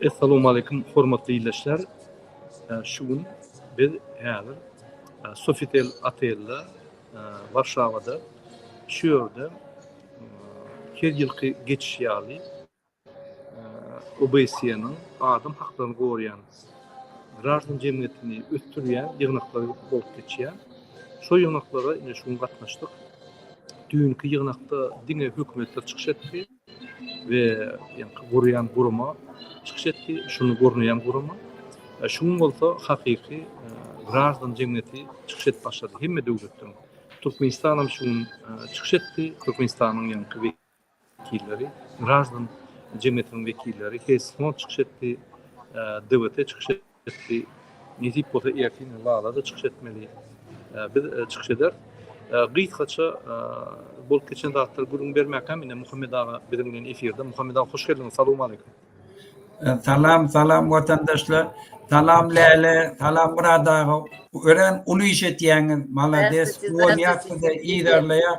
Essalowmaleýkum hormatly ildeşler. Şu gün biz häzir Sofitel otelde Warşawada şu ýerde her ýylky geçiş ýaly OBSE-niň adam haklaryny goraýan graždan jemgyýetini ösdürýän ýygnaklary bolup geçýär. Şo ýygnaklara ine şu gün gatnaşdyk. Düýnki ýygnakda diňe hökümetler çykyş etdi we ýaňky gurýan gurama çykyş etdi, şuny gurnaýan gurama. E, şu gün bolsa hakyky e, graždan jemgyýeti çykyş edip başlady hemme döwletden. Türkmenistan hem şu gün e, çykyş etdi. Türkmenistanyň ýaňky wekilleri, graždan jemgyýetiniň wekilleri, Hess fond çykyş etdi, DWT çykyş etdi, nesip bolsa ertir ine Lala-da çykyş etmeli, biz çykyş ederis. Gysgaça bolup geçen zatlary gürrüň bermäkäm, ine Muhammet aga biziň bilen efirde. Muhammet aga hoş geldiňiz, salowmaleýkum. Salam, salam watandaşlar. Salam Läle, salam Myrat aga. Örän uly iş etýäňiz, malades, ulanýas sizi, yzarlaýas.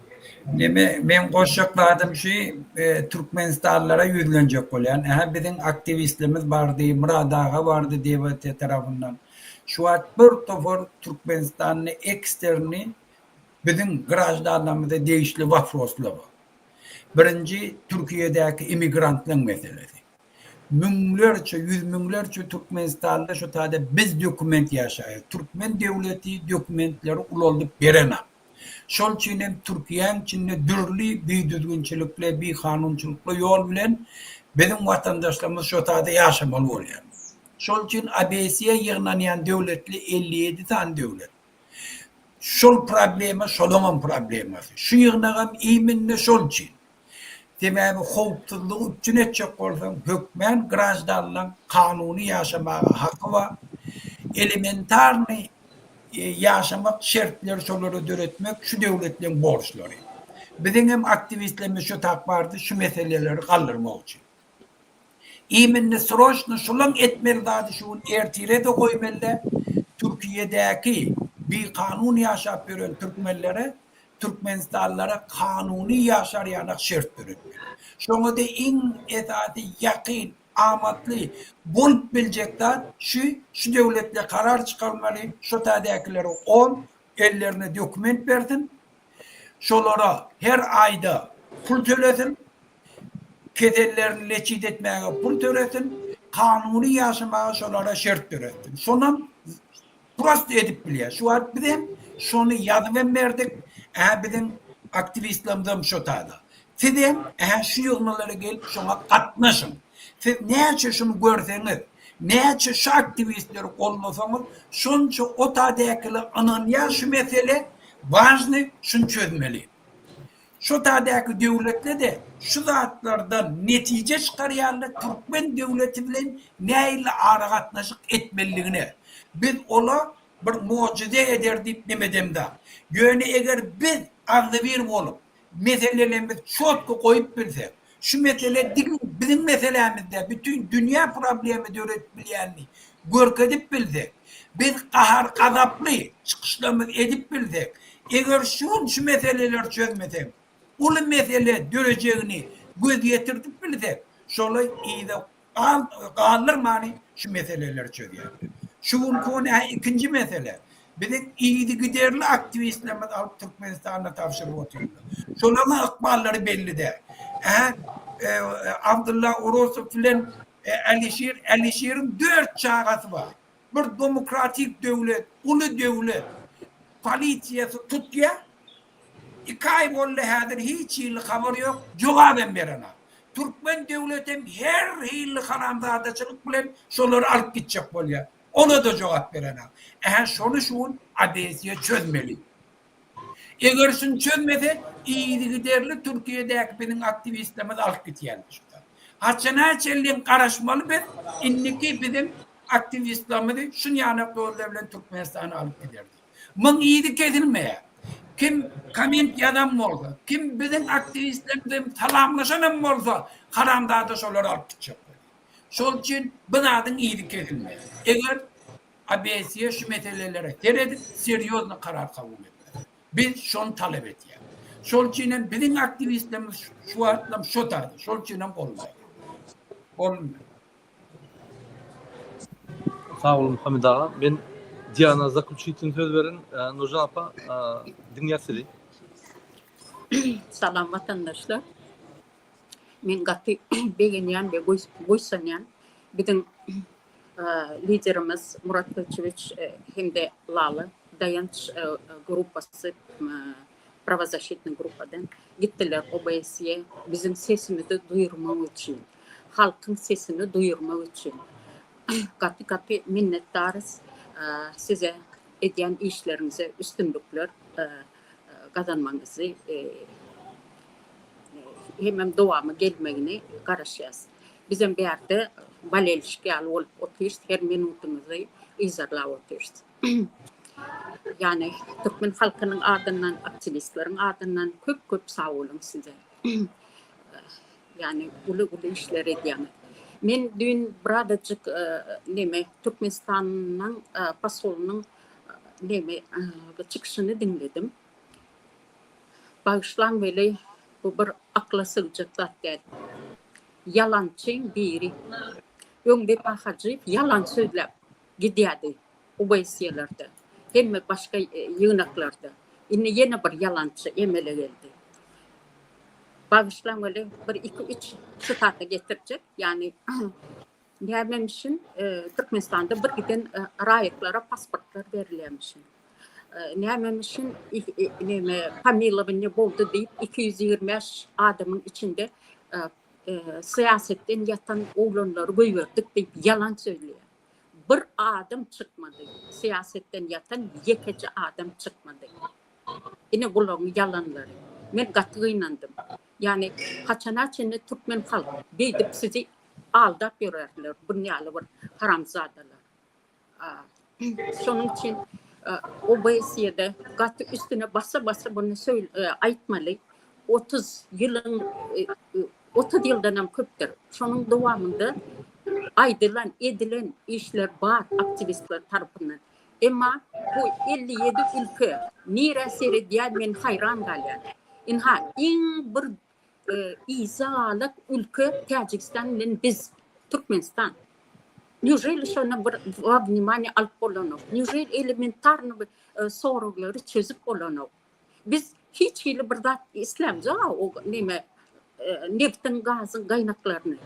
Neme meň goşjak zadym şu Türkmenistanlara ýüzlenjek bolýan ähä biziň aktiwistlimiz bardy Myrat aga bardy DBT tarapyndan şu wagt bir topar Türkmenistanly eksterni biziň graždanlarymyza degişli waproslar bar birinji Türkiýedäki emigrantlaň meselesi müňlerçe ýüz müňlerçe Türkmenistanly şu taýda biz dokument ýaşaýas Türkmen döwleti dokumentleri ulaldyp berenok. Şol üçin hem Türkiýäň içinde dürli bidüzgünçilikli, bikanunçylykly ýol bilen biziň watandaşlarymyz şo taýda ýaşamaly bolýar. Şol üçin ABS-e ýygnanýan döwletli elli ýedi sany döwlet. Şol problema şolaňam problemasy. Şu ýygnagam iminde şol üçin. Sebäbi howpsuzlygy üpjün etjek bolsaň, hökmän graždanlaň kanuny ýaşamaga haky bar. Elementarnyý ýaşamak şertleri şolary döretmek şu döwletleriň borçlary. Biziň hem aktiwistlerimiz şu tak bardy şu meseleleri galdyrmak üçin. Iminni sroçno şolaň etmeli zady şu gün ertirede goýmelidä Türkiýedäki bikanun ýaşap ýören türkmenlere Türkmenistanlylara kanuny ýaşar-ýanak şert döretmek, şoňa-da iň esasy ýakyn, amatly bolup biljek zat şu, şu döwletler karar çykarmaly, şo täzäkileri on, ellerine dokument bersin, şolara her aýda pul tölesin, kesellerini leçit etmäge pul tölesin, kanuny ýaşamaga şolara şert döretsin. Şonam Prosta edip bilýär. Şu wagt biz hem şony ýazyp hem berdik. Ähä biziň aktiwistlerimiz hem şo taýda. Siz hem ähä şu ýygnalara gelip şoňa gatnaşyň. Siz näçe şuny görseňiz, näçe şu aktiwistleri goldasaňyz, şonça o taýdakylar ynanýar şu mesele wažnyý, şuny çözmeli. Şu tadäki döwletde-de şu zatlardan netije çykarýarlar, türkmen döwleti bilen nähili aragatnaşyk etmelidigine. Biz ola bir mojyze eder diýip nem edemzak. Ýöne eger biz agzybir bolup, meselelerimizi çotky goýup bilsek, Şu mesele diňe biziň meselämiz däl, bütin dünýä problema döredip bilýänini görkezip bilsek, biz gahar-gazaply çykyşlarymyzy edip bilsek, eger şu gün şu meseleleri çözmesek, uly mesele dörejegini göz ýetirdip bilsek, şolar yza galdyrmany şu meseleleri çözýär. Şu günki gün hä ikinji mesele. Biziň yzygiderli aktiwistlerimiz alyp Türkmenistanda tabşyryp oturýar. Şolaryň ykballary belli däl. Hä e, Abdulla Orosow bilen e, Alişir, Alişiriň dört çagasy bar. Bir demokratik döwlet, uly döwlet polisiýasy tutýa, iki aý boldy häzir hiç hili habar ýok, jogap hem berenak. Türkmen döwleti hem her hili haramzadaçylyk bilen şolary alyp gitjek bolýa, ola-da jogap berenak. Ähä şony şu gün Odesiýa çözmeli. Eger şuny çözmesek, yzygiderli Türkiýedäki biziň aktiwistlerimizi alyp gidýärler şu zat. Haçana çenli garaşmaly biz, indiki biziň aktiwistlerimizi şunýanak ýollar bilen Türkmenistana alyp giderler. Muň yzy kesilmeýär. Kim komment ýazan bolsa, kim biziň aktiwistlerimiz bilen salamlaşan hem bolsa, haramzada şolary alyp gitjek bolýar. Şol üçin bu zadyň yzy kesilmeýär. Eger Abesiýa şu meselelere seredip, serýozny karar kabul etmeli. Biz şony talap edýäris. Şol üçin hem biziň aktiwistlerimiz şu wagtlam şo tarzda. Şol üçin hem goldaýarys. Sag boluň Hamid aga. Men Diana zakluçitin söz berin. Nurjan apa, diňlýas sizi. Salam watandaşlar. Men gaty begenýän we buýsanýan biziň Liderimiz Murat Köçewiç hem-de Lala Daýanç gruppasy, prawozasşitnyý gruppadan gitdiler OBSE biziň sesimizi duýurmak üçin, halkyň sesini duýurmak üçin. Gaty-gaty minnetdarys size, edýän işleriňize üstünlikler. gazanmagyňyzy hemem dowamy gelmegini garaşýas. Bizem bu ýerde bolelişik ýaly bolup otyrys, her minutymyzy yzarlap otyrys. Ýani türkmen halkynyň adyndan, aktiwistleriň adyndan köp-köp sagboluň size. Ýani uly-uly işler edýäňiz. Men düýn birazajyk neme Türkmenistanyň posolynyň nemi bu çykyşyny diňledim. Bagyşlaň weli bu bir akla sygjak zat däl. Ýalançyň biri. Öň Wepa Hajyýew ýalan sözläp gidýärdi Uweýsiýelerde, hemme başga ýygnaklarda. Indi ýene bir ýalançy emele geldi. Bagyşlaň weli bir iki üç sitata getirjek, ýagny Gärmemişin Türkmenistanda bir giden raýatlara pasportlar berilýärmişin. Nämemişin näme pamilowanie boldy diýip 225 adamyň içinde syýasatdan ýatan oglanlary goýberdik diýip ýalan sözleýär. Bir adam çykmady. Syýasatdan ýatan ýekeje adam çykmady. Ine bularyň ýalanlary. Men gaty gynandym. Ýagny haçana çenli türkmen halk beýdip sizi aldap ýörerler bunýaly bir haramzadalar. Şonuň üçin OBSE-de gaty üstüne basa basa bunu aýtmaly. 30 ýylyň 30 ýyldan hem köpdür. Şonuň dowamynda aýdylan, edilen işler bar aktiwistler tarapyndan. Emma bu elli ýedi ülke nirä seredýän men haýran galýan. Ynha iň bir izalat ülke Täjigistan bilen biz Türkmenistan. Nýuželi şona bir wawnimanýa alyp bolanok. Nýuželi elementarny bir soraglary çözüp bolanok. Biz hiç hili bir zat islämjek-a o neme e, nebtiň, gazyň gaýnaklaryny.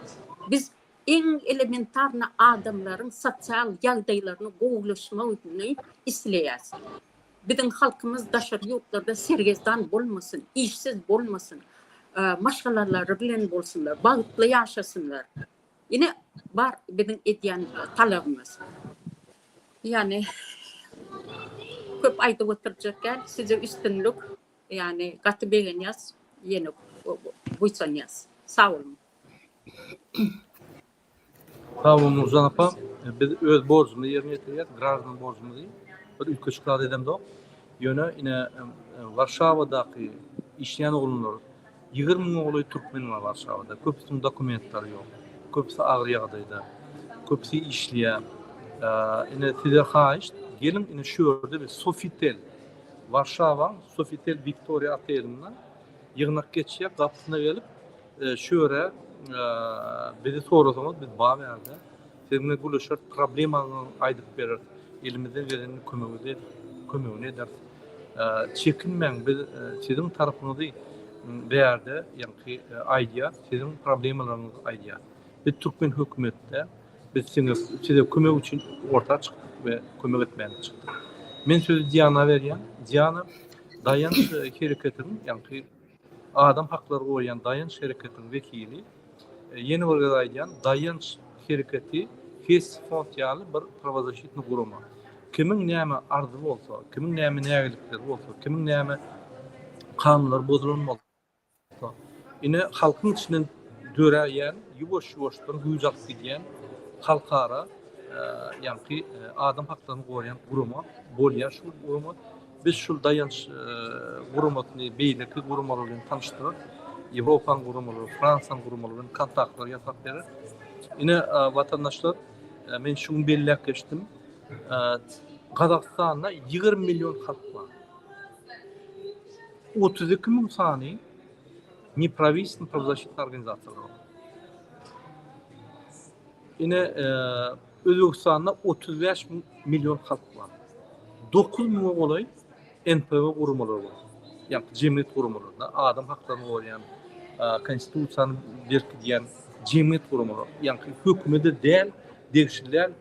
Biz iň elementarny adamlaryň sosial ýagdaýlaryny gowulaşmagyny isleýäs. Biziň halkymyz daşary ýurtlarda sergezdan bolmasyn, işsiz bolmasyn, e, maşgalalary bilen bolsunlar, bagtly ýaşasynlar. Ine bar biziň edýän talabymyz. Ýani köp aýdyp oturjak däl, size üstünlik. Ýani gaty begenýäs, ýene buýsanýas. Sag boluň. Sag bol Nurjan apa. Biz öz borjumyzy ýerine ýetirýäs, graždan borjumyzy. Bir ülke şikayet edemzok. Ýöne ine Warşawadaky işleýän oglanlar Ýigrimi müňe golaý türkmen bar Warşawada. Köpüsiniň dokumentlary ýok. Köpüsi agyr ýagdaýda. Köpüsi işleýär. Ine, size haýyşt, geliň ine şu ýerde biz Sofitel, Warşawaň Sofitel Wiktoriýa otelinde ýygnak geçýär. Gapysyna gelip, şu ýere bizi sorasaňyz, biz bar ýerde. Siz bilen gürleşeris, problemaňyzy aýdyp bereris, elimizden geleni kömeginizi kömegini ederis. Çekinmäň, biz siziň tarapyňyzy bärde ýaňky aýdýar, siziň problemalaryňyzy aýdýar. Biz türkmen hökümetde biz siňe size kömek üçin orta çykdyk we kömek etmäge çykdyk. Men sözi Diana berýän. Diana, daýanç hereketiň ýaňky Adam haklary goýýan Daýanç hereketiniň wekili, ýene bir gezek aýdýan, Daýanç hereketi Hess fond ýaly bir prawazaşitni gurama. Kimiň näme arzy bolsa, kimiň näme nägilikleri bolsa, kimiň näme kanunlary bozulan bolsa, ine halkyň içinden döräýen, ýuwaş-ýuwaşdan güýç alyp gidýän halkara ýaňky adam haklaryny goraýan gurama bolýar. Şul gurama Biz şul daýanç guramasyny beýleki guramalar bilen tanyşdyryp, Ýewropanyň guramalary, Fransiýanyň guramalar bilen kontaktlary ýasap berer. Ine, watandaşlar, men şu gün belläp geçdim, Gazagystanda ýigrimi million halk bar. Otuz iki müň sany neprawistenýa prawazaşitnýa organizasiýalar bar. Ine, Özbegistanda otuz bäş million halk bar. Dokuz müňe golaý NPO guramalary bar. Ýa-da jemgyýet guramalary, da, adam haklaryny goraýan, konstitusiýany berkidýän jemgyýet guramalary, ýa-da hökümede däl, degişli däl,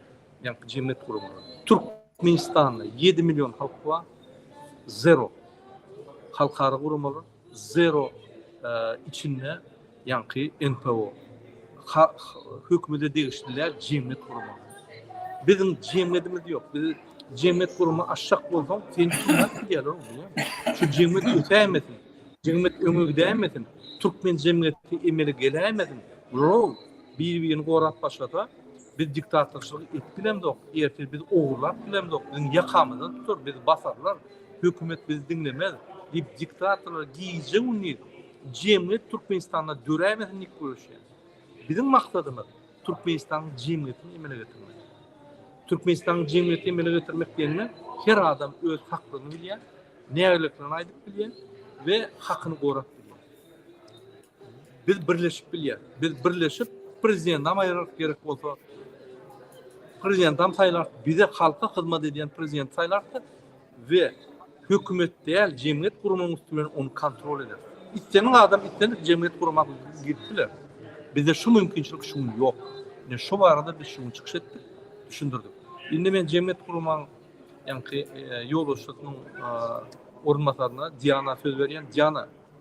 ýa-da jemgyýet guramalary. Türkmenistanda ýedi million halk bar. Zero. Halkara guramalar. Zero içinde ýaňky NPO hökümete degişli däl jemgyýet guramaly. Biziň jemgyýetimiz ýok. Biz jemgyýet gurma aşak bolsaň, sen kimden gidýärler oňa? Şu jemgyýet ösäýmesin. Jemgyýet öňe gidäýmesin. Türkmen jemgyýeti emele geläýmesin. Rol bir-birini gorap başlasa, biz diktatorçylyk edip bilemzok. Ertir biz ogurlap bilemzok. Biziň ýakamyzdan tutar, bizi basarlar. Hökümet bizi diňlemez diýip diktatorlar gije gündiz jemgyýet Türkmenistanda döräýmesin diýip göreşýär. Biziň maksadymyz Türkmenistanyň jemgyýetini emele getirmek. Türkmenistanyň jemgyýeti emele getirmek diýende her adam öz haklygyny bilýär, nägileliklerini aýdyp bilýär we hakyny gorap bilýär. Biz birleşip bilýäs. Biz birleşip prezidentam aýyraryk gerek bolsa. Prezidentam saýlaryk. Bize halka hyzmat edýän prezident saýlaryk we hökümet däl jemgyýet gurumynyň üsti bilen ony kontrol eder. Islendik adam islendik jemgyýet gurmak girip biler. Bizde şu mümkinçilik şu gün ýok. Ine şu barada biz şu gün çykyş etdik, düşündirdik. Indi men jemgyýet gurumyň ýaňky e, ýolbaşçysynyň e, orunbasaryna Diana söz berýän. Diana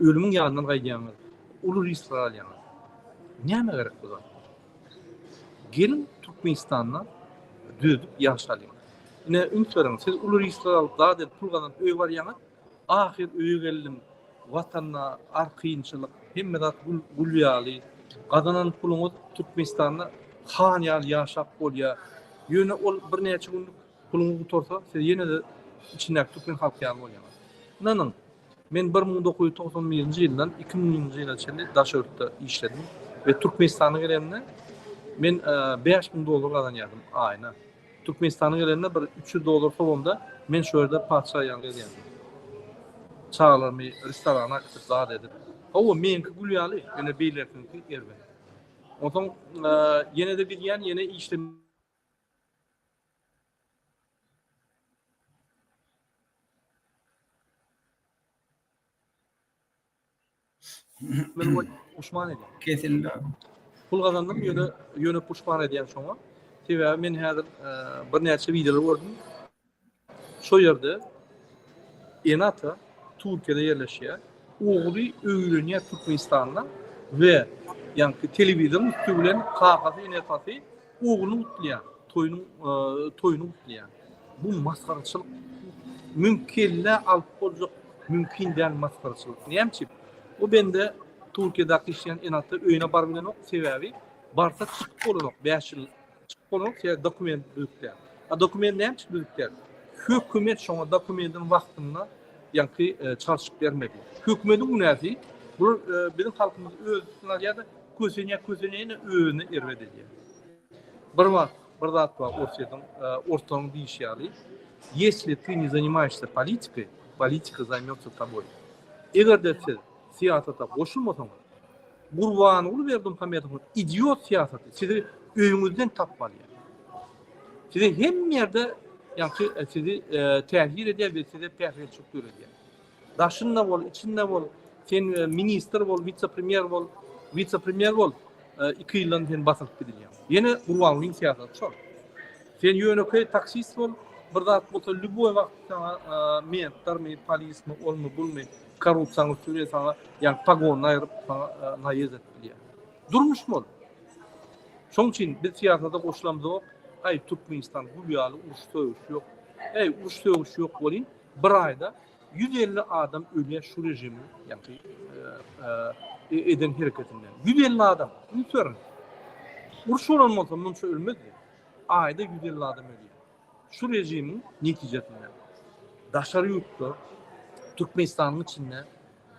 Ölümiň ýanyndan gaýdýaňyz. Uly risk alýaňyz. Nämä gerek bu zat? Geliň Türkmenistanda dödüp ýaşalyň. Ine üns beriň, siz uly risk alyp zat edip pul gazanyp öýe barýaňyz, ahyr öýe geldim, watanda ar kynçylyk, hemme zat gül gül ýaly, gazanan puluňyz Türkmenistanda han ýaly ýaşap bolýar. Ýöne ol birnäçe günlük puluňyz gutarsa, siz ýene-de içindäki türkmen halky ýaly bolýaňyz. Ynanyň, Men bir müň dokuz ýüz togsan birinji ýyldan iki müňünji ýyla çenli Daşörtde işledim we Türkmenistana gelenimde men bäş müň dollar gazanýardym aýyna. Türkmenistana gelenimde bir üç ýüz dollar sobamda men şu ýerde patyşa ýaly gezýärdim. Çagalarymy restorana äkitip zat edip. Hawa, meniňki gül ýaly, ýöne beýlekiniňki erbet. Onsoň ýene-de gidýän, ýene işlemäge. Men bu puşman edin. Kesildi. Pul gazandym, ýöne ýöne puşman edýän şoňa. Sebäbi men häzir e, birnäçe wideolar gördüm. Şo ýerde Enata Türkiýede ýerleşýär. Ogly öýlenýär Türkmenistanda we ýaňky telewizoryň üstü bilen kakasy, enesasy Ogluny gutlýar, toýuny toýuny gutlýar. Bu masgaraçylyk. Müň kelle alyp boljak mümkin däl masgaraçylyk. Näme üçin? Bu bende Türkiýedäki işleýän enata öýüne baryp bilenok, sebäbi barsa çykyp bolanok, bäş ýyl çykyp bolanok, sebäbi dokument düzüp däl. A dokument näme üçin düzüp däl? Hökümet şoňa dokumentiň wagtynda ýaňky çalşyp bermedi. Hökümetiň günäsi, bu biziň halkymyz öz üstüne alýar-da, Kösenýär, kösenýär, ýene özüne erbet edýär. Bir wagt bir zat bar, Orsýetiň, e, orslaryň diýişi ýaly, Ýesli ty ne zanimaýşsa politiky, politika zaýmýotsa taboý. Eger-de siz syýasata goşulmasaňyz, Gurbanguly Berdimuhamedowyň idiot syýasaty sizi öýüňizden tapyp alýar. Size hemme ýerde, ýa-da e, sizi e, täsir edýär we size päsgelçilik döredýär. Daşynda bol, içinde bol, sen ministr bol, wise-premýer bol, wise-premýer bol, iki ýyldan sen basylyp gidilýäň. Ýene Gurbangulyň syýasaty şol. Sen ýönekeý taksist bol, bir zat bolsa lýuboý wagt saňa mentlermi, polismi, olmy, bulmy, korrupsiýaňy süre saňa, ýa pogonyny aýryp saňa naýez edip bilýär. Durmuş bol. Şoň üçin biz syýasata goşulamyzok, aý Türkmenistan gül ýaly uruş sögüş ýok. Eý uruş sögüş ýok welin Bir aýda ýüz elli adam ölýär şu režimiň ýa-da e, eden hereketinden. Ýüz elli adam. Üns beriň. Uruş bolan bolsa munça ölmezdi. Aýda ýüz elli adam ölýär. Şu režimiň netijesinde. Daşary ýurtda, Türkmenistanyň içinde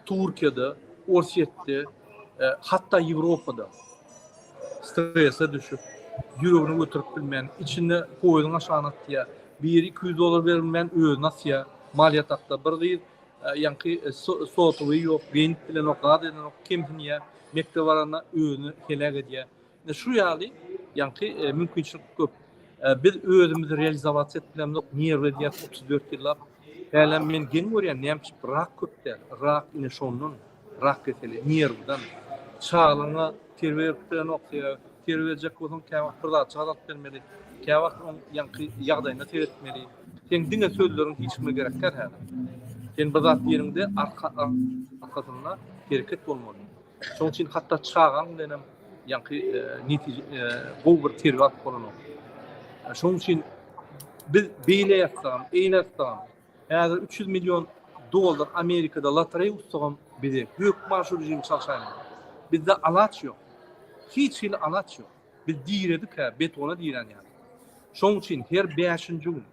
Türkiýede, Orsýetde, hatda Ýewropada strese düşüp, ýüregini göterip bilmän, içinde poýuzyň aşagyna atýar. Biri iki ýüz dollar berip bilmän, özüni asýar. Maliýe takda bir gyz, ýaňky sotuwy ýok, beýnit bilenok, zat edenok, kemsinýär. Mekdebe baranda özüni heläk edýär. Ine şu ýaly ýaňky mümkinçilik köp. Biz özümizi realizowasiýa edip bilemzok, nerw edýär otuz dört ýyllap. Hälem men geň görýän näme üçin bir rak köp däl. Rak ine şondan, rak keseli nerwden. Çagalaryňa terbiýe berip bilenok sebäbi terbiýe berjek bolsaň käwagt bir zatjyk azalyp bermeli, käwagt oň ýaňky ýagdaýyna seretmeli. Seň diňe sözleriň hiç kime gerek däl hälem. Sen bir zat diýeniňde arka arkasynda hereket bolmaly. Şoň üçin hatda çagaň bilen hem ýaňky netije gowy bir terbiýe alyp bolanok. Şoň üçin biz beýle ýatsagam, eýle ýatsagam, häzir 300 million dollar Amerikada lotereýa ussagam bize gök maşy rejimi çalşaýmaly. Bizde alaç ýok. Hiç hili alaç ýok. Biz diredik-hä, betona diren ýaly. Şoň üçin her bäşinji gün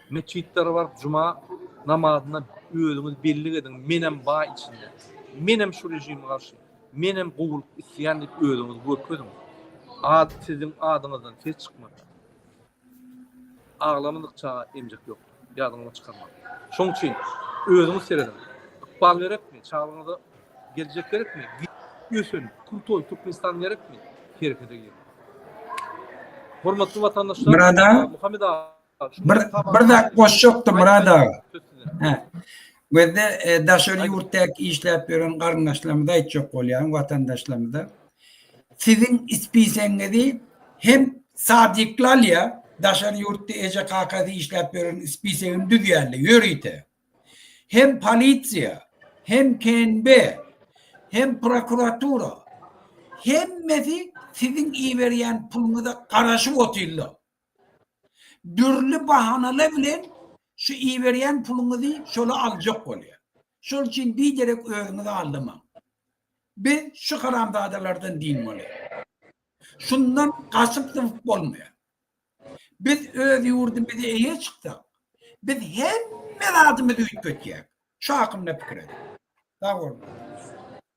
metjitlere baryp juma namazyna özüňiz bellik ediň, menem bar içinde. Menem şu režime garşy, menem gowulyk isleýän diýip özüňizi görkeziň. Ad siziň adyňyzdan ses çykmasyn. Aglamadyk çaga emjek ýokdur. Ýadyňyzdan çykarmaň. Şoň üçin özüňiz serediň. Ykbal gerekmi? Çaglygyňyza geljek gerekmi? Git, ösen, krutoý Türkmenistan gerekmi? Herekete gir. Hormatly watandaşlar, Murad aga, Muhammed aga, bir zat goşjakdym Murad aga. Gözde daşary ýurtdaky işläp ýören garyndaşlarymyza aýtjak bolýan watandaşlarymyza. Siziň ispiseňizi hem sadikli alýa, daşary ýurtda eje kakasy işläp ýören ispisegini düzýärler ýörite. Hem polisiýa, hem KNB, hem prokuratura hemmesi siziň iberýän puluňyza garaşyp otyrlar. Dürli bahanalar bilen şu iberýän puluňyzy şola aljak bolýar. Şol üçin biderek özüňizi aldamaň. Biz şu haramzadalardan dyn bolýar. Şundan gaçyp-zybyp bolmaýar. Biz öz ýurdumyza eýe çyksak, biz hemme zadymyzy üýtgetýäris. Şu hakynda pikir ediň. Sag boluň.